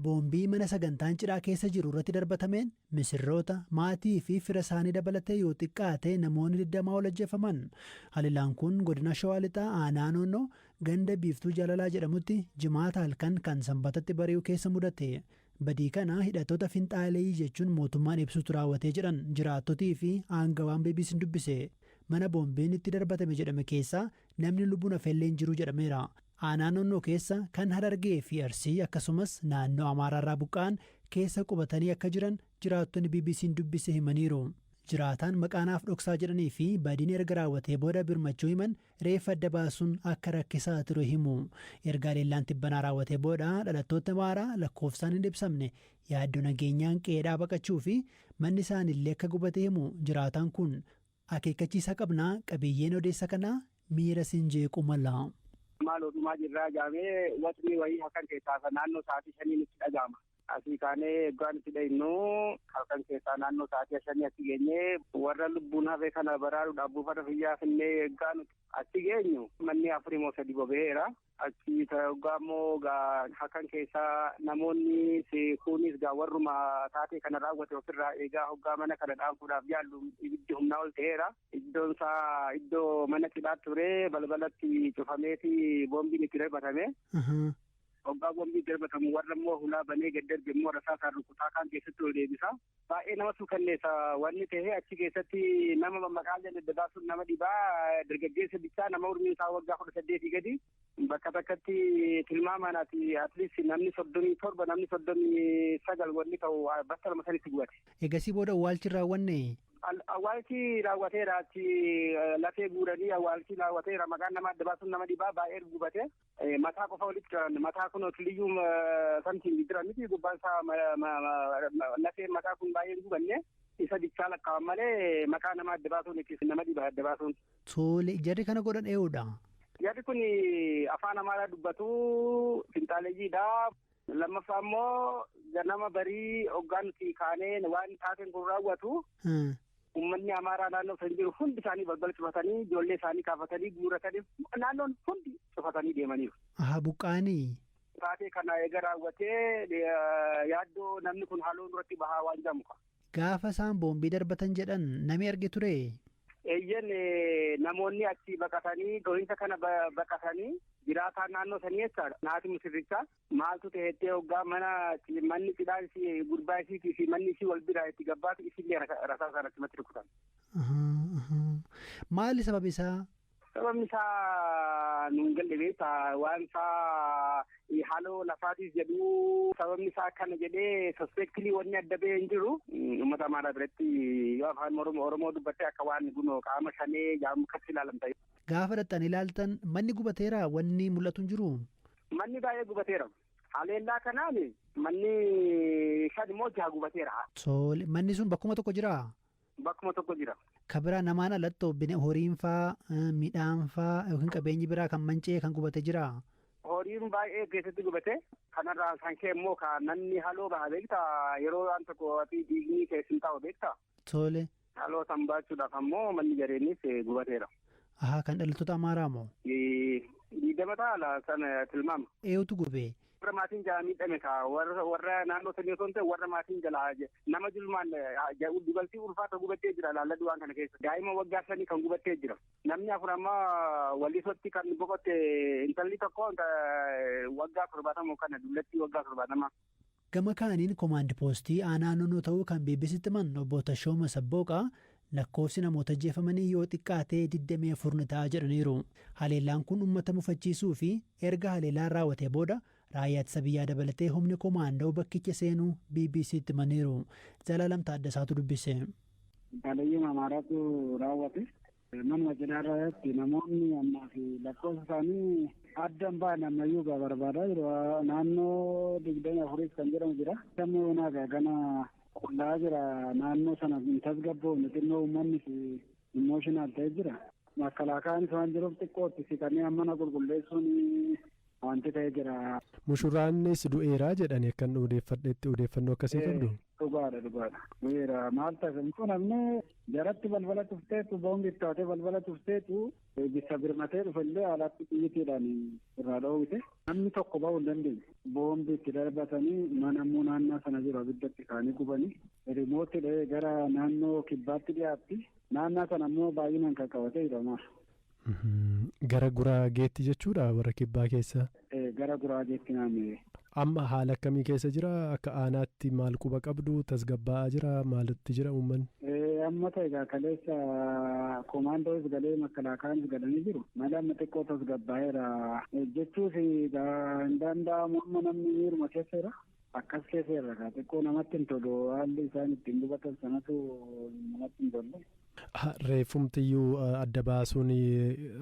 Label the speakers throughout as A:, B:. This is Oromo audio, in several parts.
A: Boombii mana sagantaan cidhaa keessa jiru irratti darbatameen misirroota, maatii fi fira isaanii dabalatee yoo xiqqaate namoonni 20 ol ajjeefaman. Haleelaan kun godina Shawaa Lixaa aanaa Noonnoo ganda Biiftuu Jaalalaa jedhamutti Jimaata halkan kan Sanbatatti bari'u keessa mudate. Badii kana hidhattoota finxaaleyyii jechuun mootummaan ibsutu raawwate jedhan jiraattotii fi aangawaan BBC'n dubbise. Mana boombiin itti darbatame jedhame keessaa Namni lubbuun hafellee hin jiru jedhameera. Aanaa Noonnoo keessa kan Harargee fi Arsii akkasumas naannoo Amaaraarraa buqqa'an keessa qubatanii akka jiran jiraattonni BBC'n dubbise himaniiru. Jiraataan maqaa naaf dhoksaa jedhanii fi badiin erga raawwatee booda birmachuu himan reeffa adda baasuun akka rakkisaa ture himu. Erga haleellaan tibbanaa raawwatee booda dhalattootni Amaaraa lakkoofsaan hin ibsamne yaaddoo nageenyaan qe'eedhaa baqachuu fi manni isaaniillee akka gubate himu jiraataan kun. Akeekkachiisa qabna, Qabiyyeen odeessa kanaa miira sin jeequu mala. Maaloo dhumaa
B: jirraa jaamee watni wayii halkan keessaa naannoo sa'aatii shanii nutti dhaga'ama. Asii kaanee oggaa nutti dhayinnu halkan keessaa naannoo sa'aatii shanii achi geenye warra lubbuun hafe kana baraaruudhaaf buufata fayyaa finnee oggaa nuti achi geenyu manni afurimoo sadi bobee'eera. Achi hoggaa immoo halkan keessaa namoonni kunis gaa warruma taatee kana raawwate ofirraa eegaa hoggaa mana kana dhaamsuudhaaf yaallu ibiddi humnaa ol ta'eera. Iddoon isaa iddoo mana cidhaa ture balbalatti cufameeti boombiin itti darbatame. Hoggaa boombiin darbatamu warra immoo hulaa banee gad darbe immoo rasaasaan rukutaa kaan keessatti ol deebisa. Baay'ee nama suukanneessa wanni ta'e achi keessatti nama maqaan adda baasuun nama dhibaa dargaggeessa bichaa nama umriin isaa waggaa kudha saddeetii gadi bakka takkatti tilmaamaan ati atleast namni soddomii torba namni soddomii sagal wanni ta'u bakka lama sanitti gubate. Egasii booda awwaalchi
A: raawwanne. Awwaalchi
B: raawwateera achi lafee guuranii awwaalchi raawwateera maqaan nama adda baasuun nama dhibaa baay'ee gubate. Mataa qofa walitti qabanne mataa kun otiliyyuu samtiin jira miti gubbaan isaa lafeen mataa kun baay'ee hin gubanne isa bichaa lakkaa'an malee maqaa nama adda baasuun itti nama dhiba adda baasuun. Tole jarri kana
A: godhan ee'uudha. Jarri kun
B: afaan amaaraa dubbatu finxaaleyyiidha. Lammaffaa immoo ganama barii hoggaa nuti kaanee waan taateen kun raawwatu uummanni Amaaraa naannoo san jiru hundi isaanii balbala cufatanii ijoollee isaanii kaafatanii guuratanii naannoon hundi cufatanii deemaniiru. Aha buqqaanii.
A: Taatee kana
B: eega raawwatee yaaddoo namni kun haaloo duratti bahaa waan jedhamu qaba. Gaafa isaan
A: boombii darbatan jedhan nami arge turee? Eeyyen
B: namoonni achi baqatanii dhohinsa kana baqatanii jiraataan naannoo sanii jechaadha. Naati musirricha maaltu ta'ettee hoggaa mana manni cidhaa isii gurbaa isiitii fi manni isii wal biraa itti gabbaatu isillee rasaa isaan achumatti rukutan.
A: Maali sababi isaa? Sababni isaa
B: nuun galle beektaa waan isaa haaloo lafaatiif jedhu sababni isaa kana jedhee sospeektilii wanni adda ba'ee hin jiru. Uummata Amaaraa biratti yoo afaan Oromoo dubbatte akka waan gunoo qaama shanee jaamu akkatti ilaalamta. Gaafa dhaqxanii
A: ilaaltan manni gubateera wanni mul'atu hin jiru. Manni baay'ee
B: gubateera. Haleellaa kanaan manni shan immoo jaha gubateera. Tole manni sun
A: bakkuma tokko jiraa? Bakkuma tokko
B: jira. Ka biraa namaan alatti
A: obbine horiin faa midhaan faa yookiin qabeenyi biraa kan manca'ee kan gubate jira. Horiin baay'ee
B: keessatti gubate. Kanarraa kan ka'e immoo ka namni haloo baha beekta yeroo waan tokko ati diigni keessin taa'u beekta. Tole.
A: Haloo san
B: baachuudhaaf ammoo manni jareenis gubateera. Ahaa kan dhalattoota
A: Amaaraa moo? Diidama
B: taala sana tilmaama. Eewutu gubee?
A: warra maatiin jalaa miidhame
B: ka warra warra naannoo sanii osoo hin ta'e warra maatiin jalaa je- nama dulmaan eh, ja- dubartii ulfaata gubattee jira laalla du'aan kana keessa daa'ima waggaa sanii kan gubattee jira namni afur amma walisotti kan boqotte intalli tokko inta- waggaa torbaatama kana dullattii waggaa torbaatama Gama kaaniin
A: komaand poostii aanaa noonoo ta'uu kan BBCtti himan obbo Tashooma Sabbooqaa Lakkoofsi namoota ajjeefamanii yoo xiqqaate 24 ni ta'a jedhaniiru. Haleellaan kun ummata mufachiisuu fi erga haleellaan raawwatee booda raayyaa ittisa biyyaa dabalatee humni komaandoo bakkicha seenuu BBC'tti himaniiru. Zalaalam Taaddasaatu dubbise. Baadiyyaa
C: Amaaraatu raawwate. Manuma cidhaa irratti namoonni ammaa fi lakkoofsa isaanii adda hin baane ammayyuu gaa barbaadaa jiru. Naannoo digdamii afuriis kan jedhamu jira. Dammoo yoonaa gaa gana Qullaa jira naannoo sana hin tasgabboofne xinnoo uummannis immooshinal ta'ee jira. Makkalaakaanis waan jiruuf xiqqootti siqanii mana qulqulleessuun wanti ta'ee jira. Mushuraannis
D: du'eera jedhani akkan odeeffadhetti odeeffannoo akkasii qabdu? Dhugaadha dhugaadha
C: du'eera maal ta'a hin cunamne jaratti balbala cufteetu boombi itti taatee balbala cufteetu Eegissa birmatee dhufe illee alatti xiyyitiidhaan irraa dhoowwite. Namni tokko bahuu hin dandeenye. Boombi itti darbatanii mana immoo naannaa sana jiru abidda itti kaanii gubanii rimooti dha'ee gara naannoo kibbaatti dhiyaatti. Naannaa sana immoo baay'inaan kan qabate hidhamaa.
D: Gara guraageetti jechuudha warra kibbaa keessaa. gara Guraageetti
C: naanna'e. Amma haala akkamii
D: keessa jira? Akka aanaatti maal quba qabdu? Tasgabbaa'aa jira? Maalitti jira uummanni? Amma ta'e egaa
C: kaleessa komaandoos galee makalaakaanis galanii jiru. Mala amma xiqqoo tasgabbaa'eera. Jechuus egaa hin danda'amu amma namni miiruma keessa jira. Akkas keessa jira egaa xiqqoo namatti hin tolu haalli isaan ittiin gubatan sanatu namatti hin tolle. Reeffumtiyyuu
D: adda baasuun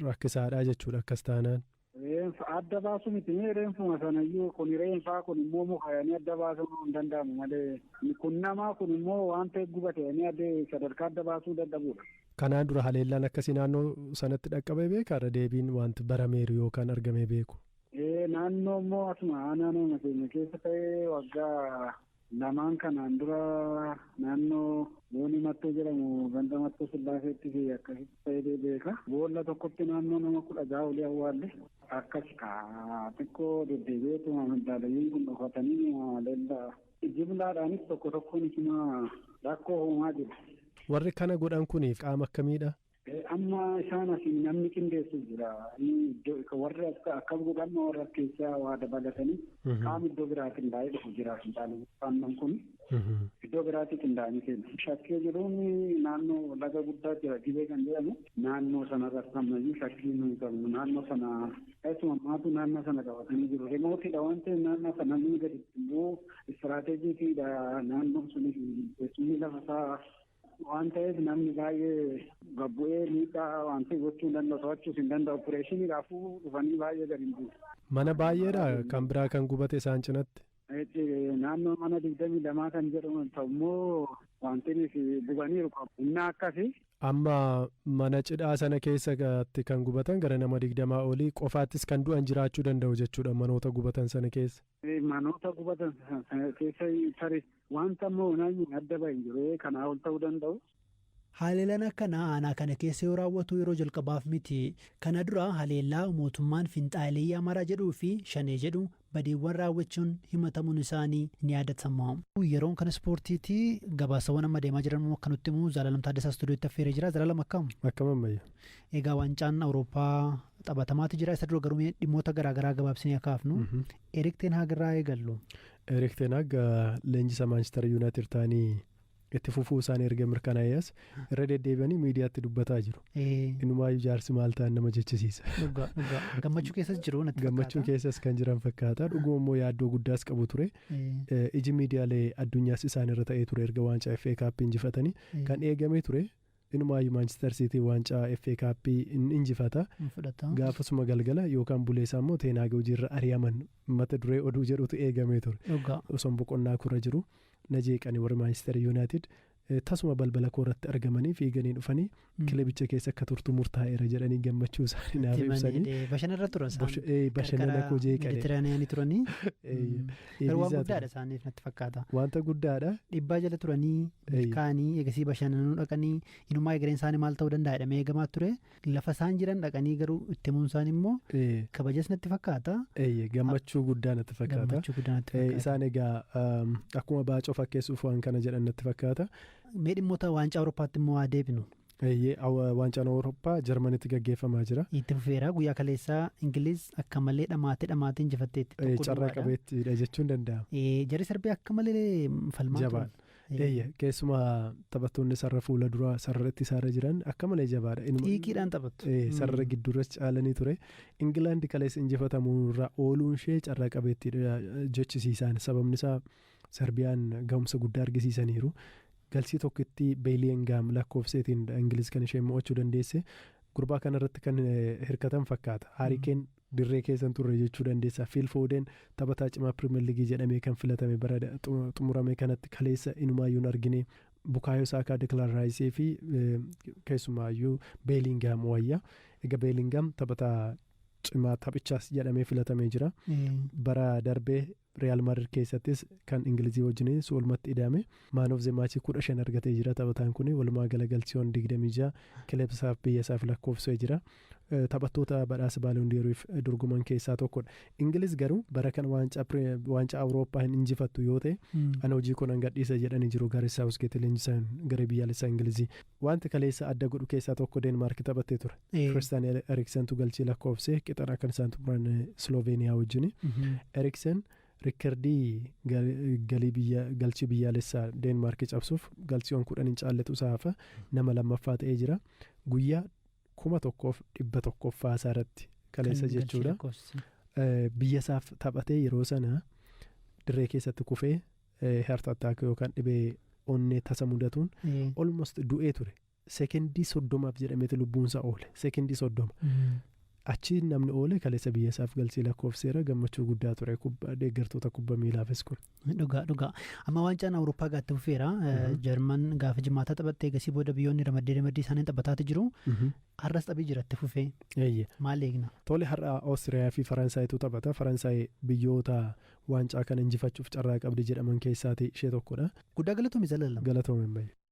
D: rakkisaadha jechuudha akkas taanaan. Reenfa adda
C: baasu miti mee reenfuma sanayyuu kun reenfaa kun immoo muka jedhanii adda baasuun hin danda'amu malee kun namaa kun immoo waan ta'e gubate jedhanii adda sadarkaa adda baasuu dadhabuudha. Kanaan dura haleellaan
D: akkasii naannoo sanatti dhaqqabee beekaa irra deebiin wanti barameeru yookaan argamee beeku. Ee naannoo
C: immoo asuma aanaa nama keenya keessa ta'ee waggaa Lamaan kanaan dura naannoo Boonii Mattoo jedhamu ganda Mattoo Sillaaseetti fi akkasitti ta'ee beeka. Boolla tokkotti naannoo nama kudha ja'a olii awwaalle. Akkasi kaa xiqqoo deddeebi'eetuma maddaalayyuun kun dhokatanii leellaa jimlaadhaanis tokko tokkoon isuma rakkoo uumaa jiru. Warri kana
D: godhan kun qaama akkamiidha? Amma
C: isaan asiin namni qindeessu jira. Warri akkas godha amma warra as keessaa waa dabalatanii qaama iddoo biraatiin qindaa'ee dhufu jira fincaanii aannan kun. Iddoo biraatii qindaa'anii kennu. Shakkee jiruun naannoo laga guddaa jira gibee kan jedhamu. Naannoo sanarratti ammayyuu shakkii nuyi qabnu naannoo sana keessumaa maatu naannoo sana qabatanii jiru. Rimootidha waan ta'eef naannoo sana ni gadi bu'u. Istiraateejiitiidha naannoo sunis teessumni lafa isaa Waan ta'eef namni baay'ee gabbu'ee miidhaa wanti gochuu hin danda'u to'achuus hin danda'u opereeshinii raafuu dhufanii baay'ee gadi hin buusu. Mana baay'eedha
D: kan biraa kan gubate isaan cinatti. Naannoo
C: mana digdamii lamaa kan jedhamu ta'ummoo wanti gubaniiru qabu. Innaa akkasi. Amma
D: mana cidhaa sana keessatti kan gubatan gara nama digdamaa olii qofaattis kan du'an jiraachuu danda'u jechuudha manoota gubatan sana keessa. Manoota gubatan
C: sana keessa tarii wanta amma onaayyuu adda bahe hin jiru kanaa ol ta'uu danda'u. Haleelaan
A: akkanaa aanaa kana keessa yoo raawwatu yeroo jalqabaaf miti. Kana dura haleellaa mootummaan finxaaleyyii Amaaraa jedhuu fi Shanee jedhu badiiwwan raawwachuun himatamuun isaanii ni yaadatama. Yeroon kan ispoortiiti. Gabaasawwan amma deemaa jiran immoo akka nutti himu Zalaalam Taaddasaa istuudiyootti affeeree jira. Zalaalam akkam? Akkam ammayya.
D: Egaa waancaan
A: Awurooppaa taphatamaatu jira. Isa dura garuu mee dhimmoota garaa garaa gabaabsinee akka hafnu. Erik Ten Hag irraa eegallu. Erik Ten Hag
D: leenjisaa Maanchister Yuunaayitid ta'anii itti fufuu isaanii erga mirkanaa'ees irra deddeebi'anii miidiyaatti dubbataa jiru. Inumaayyuu jaarsi maal ta'an nama jechisiisa. Dhugaa dhugaa gammachuu
A: keessas jiru natti fakkaata. Gammachuu keessas kan jiran
D: fakkaata. Dhuguma immoo yaaddoo guddaas qabu ture. Iji miidiyaalee addunyaas isaan irra ta'ee ture erga waancaa FA Kaappii injifatanii kan eegamee ture. Inumaayyu Maanchister Siitiin waancaa FA Kaappii hin injifata. Hin fudhata. Gaafasuma galgala yookaan buleesaa immoo Teen Haag hojiirra ari'aman mata duree oduu jedhutu eegamee ture. Dhugaa. Osoon boqonnaa koorra jiru na jeeqani warri Maanchister Yuunaayitid. Tasuma balbala koorratti argamanii fiiganii dhufanii kilebicha keessa akka turtu murtaa'eera jedhanii gammachuu isaanii naaf ibsanii. Bashanarra turan
A: isaan. Bashanana koo jeeqani.
D: Meditiraaniyaanii turanii.
A: Garuu waan Eebisaa guddaadha ture. isaaniif natti fakkaata. Wanta guddaadha.
D: Dhibbaa jala turanii
A: Eeyyee. milkaa'anii eegasii bashannanuu dhaqanii inumaa egereen isaanii maal ta'uu danda'a jedhamee eegamaa ture lafa isaan jiran dhaqanii garuu itti himuun isaanii immoo Ee, kabajas natti fakkaata Eeyyee gammachuu
D: guddaa natti fakkaata. gammachuu guddaa natti Ee, fakkaata. Isaan egaa um, akkuma baacoo fakkeessuuf waan kana jedhan natti fakkaata. Mee dhimmoota
A: waancaa Awurooppaatti immoo haa deebinu. Eeyyee, Aw- Waancaan
D: Awurooppaa Jarmanitti gaggeeffamaa jira. Itti fufeera guyyaa
A: kaleessaa Ingiliz akka malee dhamaatee dhamaatee injifatteetti Eh, tokko Carraa duwwaadha. qabeettiidha
D: jechuun danda'ama. Eh, Jarri Sarbiyaa akka
A: malee falmaa turan. Jabaadha. Eh, Eeyyee, keessumaa
D: taphattoonni sarara fuula duraa sarara ittisaarra jiran akka malee jabaadha. Inuma- Xiiqiidhaan taphattu.
A: Eh, Mm. sarara gidduurras
D: caalanii ture. Ingilaandi kaleessa injifatamuurraa ooluun ishee carraa qabeettiidha jechisiisaan sababni isaa Sarbiyaan gahumsa guddaa argisiisaniiru. Galchii tokkitti Beeliyengaam lakkoofseetiin dha Ingiliz kan isheen mo'achuu dandeesse. Gurbaa kanarratti kan hirkatan fakkaata. Haarikeen dirree keessa hin turre jechuu dandeessa. Fiil Foodeen taphataa cimaa Piriimer Liigii jedhamee kan filatame bara xumurame kanatti kaleessa inumaayyuu hin argine. Bukaayoo Saakaa, Dekilaan Raayisii fi keessumaayyuu Beelingaam wayya. Egaa Beelingaam taphataa cimaa taphichaas jedhamee filatamee jira. Bara darbee Riyaal Maadrid keessattis kan Ingilizii wajjin su'ulmatti ida'ame Man of the Match 15 argatee jira. Taphataan kun walumaa gala galchiiwwan 26 kilebsaaf biyyasaaf lakkoofsee jira. Taphattoota badhaasa Ballon d'Oriif dorgoman keessaa tokkodha. Ingiliz garuu bara kana waancaa Pire- waancaa Awurooppaa hin injifattu yoo ta'e ani hojii koo nan gadhiisa jedhanii jiru Gaaret Saawusgeet leenjisaan garee biyyaalessaa Ingilizii. Waanti kaleessa adda godhu keessaa tokko Deenmaarki taphattee ture. Ee. Kiristaan Eriksentu galchii lakkoofsee qixadha kan isaan xumuran eh, Sloveeniyaa wajjini. Mhm. Eriksen rikkardii gal- galii biyya galchii biyyaalessaa Deenmaarki cabsuuf galchiiwwan kudhan hin caalletu isaa hafa nama lammaffaa ta'ee jira. Guyyaa kuma tokkoof dhibba tokkoffaa isaa irratti kaleessa Kan galchii jechuudha. lakkoofsise. Eh, Biyya isaaf taphatee yeroo sana dirree keessatti kufee heart attack yookaan dhibee onnee tasa mudatuun almost du'ee ture sekendii soddomaaf jedhameeti lubbuunsaa oole sekendii soddoma achi namni oole kaleessa biyya isaaf galchee lakkoofseera gammachuu guddaa ture kubba- deeggartoota kubba miilaafis kun Dhugaa dhugaa.
A: Amma waancaan Awurooppaa gaatti fufeera. Jarman gaafa jimaataa taphattee eegasii booda biyyoonni ramaddee ramaddii isaanii taphataati jiru. Har'as taphii jiratti fufee Eeyye. maal eegna? Tole har'a Oostiriyaa fi Faransaaytu taphata. Faransaay biyyoota waancaa kana injifachuuf carraa qabdi jedhaman keessaati ishee tokkodha. Guddaa galatomi zalaalam. Galatoomi Ammayya.